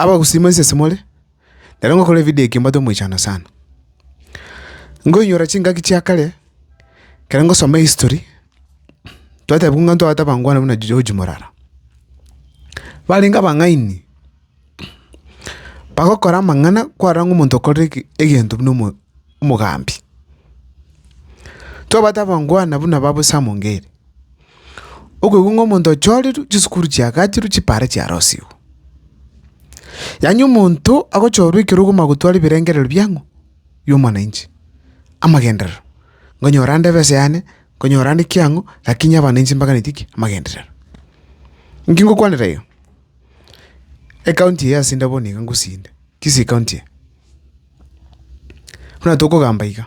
Abagusima inse simore, na ere ngokora evidio eke mbwate omoichano sana. Nkoinyora chingaki chia kare, ekero ngosoma ehistory, twatebwa ng'a ntwabate abangwana buna George Morara. Barenge abang'aini, bagokora amang'ana kwarora ng'a omonto okorire eke egento buna omo omogambi. Twabate abangwana buna babu Sam Ngeri. Okoigwa ng'a omonto ochorirwe, chisukuru chiagachirwe, chipaare chiarosigwe. Yaani omonto agochorwa ekero okoma gotwara ebirengerero biang'o? bi'omwananchi, amagenderero, nkonyora ande ebesa yane, nkonyora ande ki ang'o, lakini abananchi mbaganetie ki? amagenderero. Inki ngokwanera iga? Ekaunti eye ase nde bono iga ngosinda, kisii county eye, buna tokogamba iga.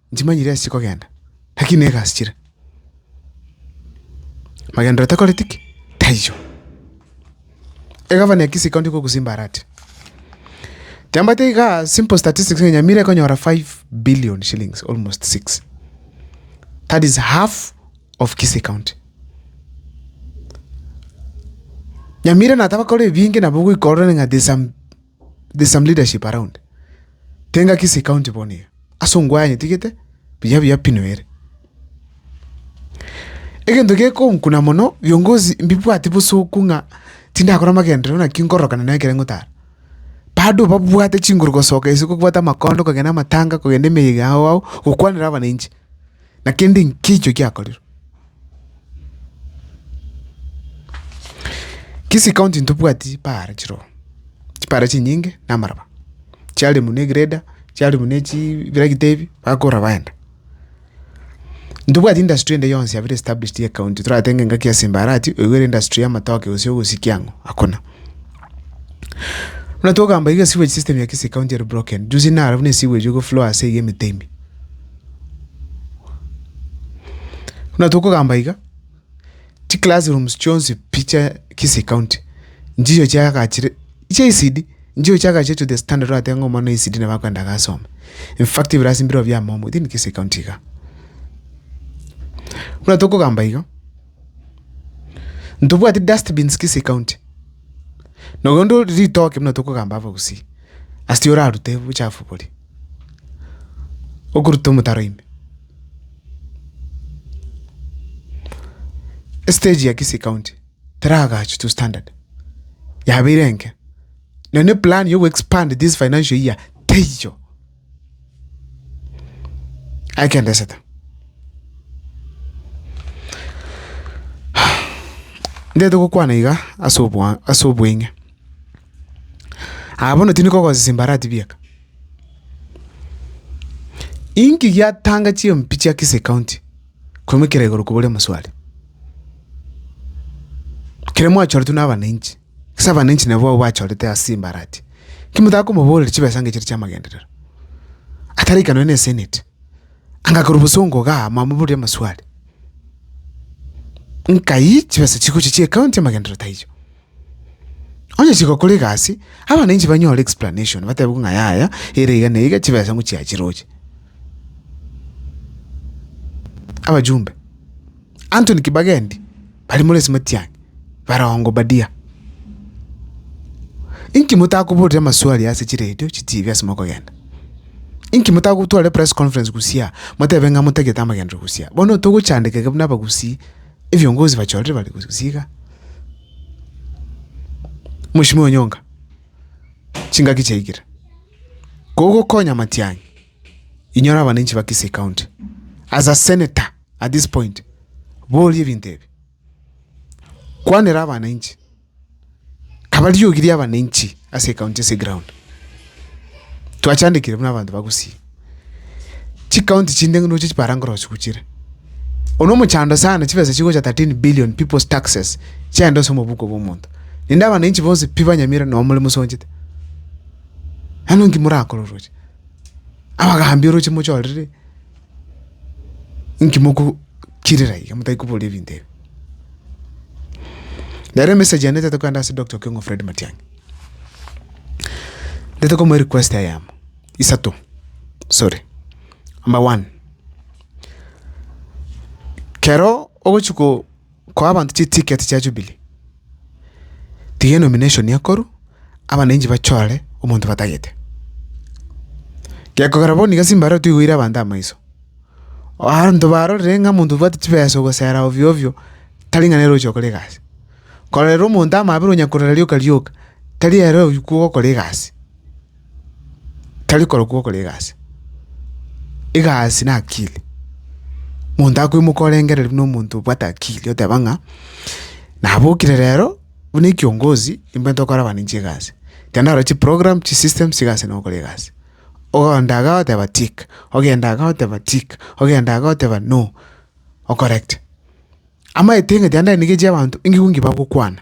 Nchimanyire ase chikogenda, naki nigo egasichire. Magenderero takoreti ki? Taiyo. Egavana ya Kisii County kogosimba arati, Kiambato igaa simple statistics ng'a Nyamira ekonyora five billion shillings, almost six. That is half of Kisii County. Nyamira nataba kore ebinge nabo ogoika orore ng'a there's some There's some leadership around. Tenga Kisii county bono iga. Ase ongwae onye tigete buya buya pi noere. Egento gekonkuna mono viongozi mbibwati bosoku ng'a tindakora amagenderero naki nkororokana na ekere ngotara. Bado babwate chinguru gosoka isiko kobwate amakondo kogenda amatanga kogenda emeyega ao ao gokwanera abananchi. na kende nkicho giakorerwe. Kisii county ntobwati chibare chiroo, chibare chinyinge na amaraba, chiare buna egreda, chiare buna ebiragita ebi, bakora baenda. Ntobwati industry ende yonsi yabire established here county, toratenge ngaki ase mbarati, oigwe ere industry ya amatoke gose ogosikia ang'o, hakuna. Buna togamba iga esewage system ya Kisii county ere broken, juzi nare buna esewage ego flow ase iga emete ime. Buna tokogamba iga, chi class rooms chionsi pi chia Kisii county nchicho chiagachire chia ECD, nchicho chiagachire to the standard orateba ng'a omwana o ECD nabo akoenda iga asome. In fact ebirasi mbirobio bia momo within Kisii county iga. Buna tokogamba iga, ntobwati dustbins Kisii county, nonya onde ore ritoke buna tokogamba abagusii, ase orarute obochafu boria. Okoruta omotaro ime. Estage ya Kisii county teragachwe to standard yabeire enke na ne plan ya goexpand this financial year teiyo. Ake ndesete ndete gokwana iga ase obwa ase obweng'e. Aye bono tindi kogosesa embarati bieka. Inki giatanga chimpi chia Kisii County korwa ekero igoro kobori omosubari? Ekero mwachoretwe na abananchi, ase abananchi nabo abwo bachorete ase embarati, ki motaka komoboreria chibesa ngeche chia amagenderero? Atari aikanwe ne Senate, anga korwa bosongo igaa mwamoboria amaswali, nkai chibesa chigochia chia ekaunti amagenderero taiyo? Onye chigokora egasi, abana inche banyore explanation, bateebigwe ng'a yaya, ere iga na iga, chibesa nigo chiachiroche. Abajumbe, Anthony Kibagendi, bari more ase Matiang'i, barongo badia. Inki motakoborire amaswali ase chiredio, chitibi ase mokogenda? Inki motagotwara epress conference Gusii aa, motebe ng'a motagete amagenderero Gusii aa? Bono togochandekeka buna Abagusii. ebiongozi bachorire bare gose gose iga. Mweshimiwa Onyonga, chingaki chiaikire, kogokonya Matiang'i inyora abananchi ba Kisii county as a senator at this point, boria ebinto ebi, kwanera abananchi. Kaba riogi ri'abananchi ase ekaunti ase egraound. Twachandekire buna abanto ba Gusii. Chikaunti chinde ng'a ndoche chibara nkorosia gochire. Oria omochando sana chibesa chigocha thirteen billion people's taxes chiaenda ase omobuko bw'omonto. Naende abananchi bonsi pi banyamire noo more mosonchete. Nano nki morakore oroche? Abagaambi oroche mochorire. Inki mogochirera iga motari koboria ebinto ebi? Nere emessage yane ntete kogenda ase Doctor Okengo Fred Matiang'i. Ntete komoa erequest eye amo, isato, sorry. Number one, kero ogochia ko. Koa abanto chiticket chia Jubilee, tiga enomination ekoru, abananchi bachore omonto batagete. Gekogera bono iga simbarao tigoire abanto amaiso, abanto barorire ng'a omonto obwate chibesa ogosera ovyo ovyo, tari ng'a nere ogochia gokora egasi. Kororera omonto amabera onya korora rioka rioka, tari ere oywo kogokora egasi. Tari korokwa ogokora egasi, egasi na akili, monto akoimoka orengereri buna omonto obwate akili oteba ng'a nabokire rero buna ekiongozi nimbwate gokora abananchi egasi, ekero narora chiprogram, chisystem chiga ase nokora egasi. Ogoenda iga oteba tick, ogenda iga oteba tick, ogenda iga oteba no, okorecti. Amaete ng'ati ande nigo echi abanto engigwe ng'ibagokwana.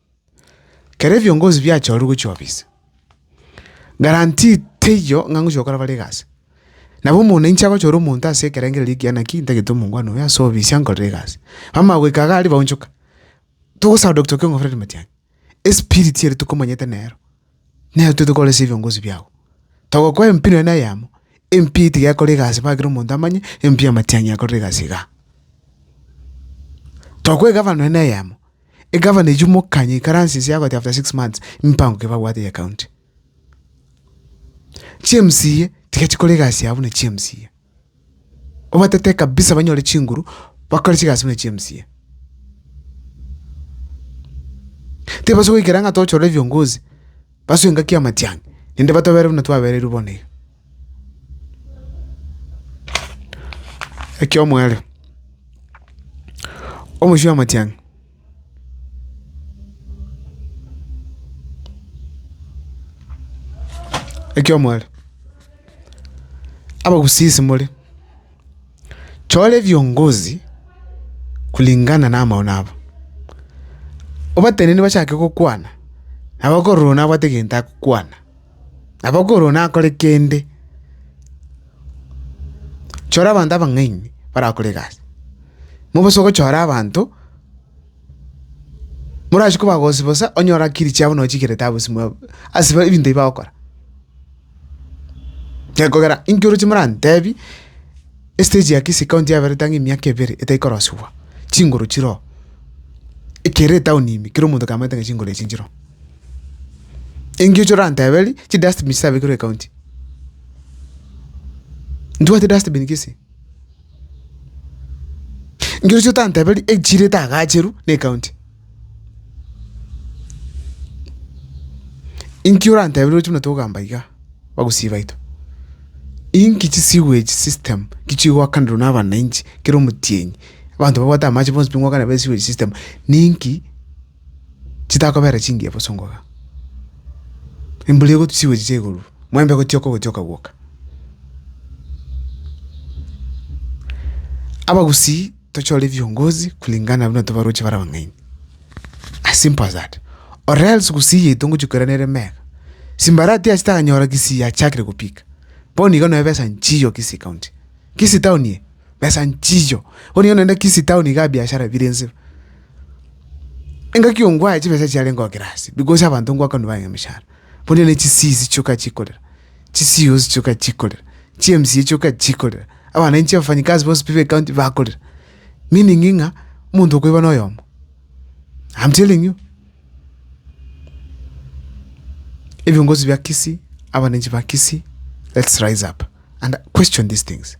Kera ebiongozi biachorire gochia ofisi, guarantee teiyo ng'a ngochia gokora bare egasi. Nabo omona inche agochora omonto ase ekerengererio ekiya naki ntagete omongwana oyo ase ofisi ankorere egasi. Bamanya goika iga aria baonchoka, togosaba Doctor Okengo Fred Matiang'i, espirit ere tokomanyete nero. Nere toite koresa ebiongozi biago. Togokoa empi nonya na eyemo, empi eye tiga ekore egasi mpaka kera omonto amanye empi y'amatiang'i yakorire egasi iga. Tokoa egavana nonya na eyemo, egavana echi omokanye aikaranse inse agote after six months mipango ki babwate ya county. Chi MCA tiga chikore egasi yabo buna chi MCA. obatete kabisa banyore chinguru bakore chigasi buna chia emcee. Tibabasa goikera ng'a tochore ebiongozi basoe engaki y'amatiang'i naende batobere buna twabererwe bono iga. Ekiomwerero, omochie w'amatiang'i. Ekiomwaerero, abagusisi more, chora ebiongozi kulingana na amaono abo. Obatenene bachake gokwana, nabo okorora one abwate egento agokwana, nabo okorora one akore kende. Chora abanto abang'aini barakore egasi, mobosa ogochora abanto morachie kobagosia bosa onye orakiri chiabo nonye chikerete abwo simwabo ase ba ebinto ebi bagokora. Gekogera inki oroche morantebi estage ya kisii county yaberete ang'e emiaka ebere etaikorosiwa, chinguru chiroo, ekere etown ime kera omonto akamaete ng'a chinguru echi nchiroo. Engiocho oranteberie chidustbin chisabekirwe ecounty. Ntibwati dustbin gese? Ngeroche otanteberie echirete agacheru ne county. Inki orantebire oroche buna togamba igaa bagusii baito? Inki chisigo echi system ki chigoakanirwa na abananchi kera omotienyi, abanto babwate amache bonsi pi ngoakana besigo echi system ninki? chitakobeera chingiya bosongoka, embura egotwa chigochicha igoro, omoembe gotioka ogotioka gwoka. Abagusii tochore viongozi kulingana na buna tobaroche bare abang'aini, as simple as that, or else gusii yaito ngochia koira nere mega, simbarati ase tanyora kisii achakire gopika, bono iga nonya besa nchiyo kisii county, kisii town eye besa nchiyo, bono iga nonye kisii town iga biashara bire nse. Engaki ongwae chibesa echi chiarenge goakera ase, because abanto ngwakanwa baye emechara. Bono ne chisiisi chioka chikorera, chi COs chioka chikorera, chi MCA chioka chikorera, abananchi abafanyikazi bonsi pi be county bakorera, meaning ng'a omonto okoiba noyomo, am telling you. Ebiongozi bia Kisii, abananchi ba Kisii let's rise up and question these things.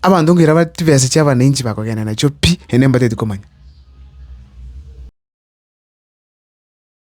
Abanto nkaira ba chibesa chia abananchi bakogenda nachio pi naende mbatagete komanya.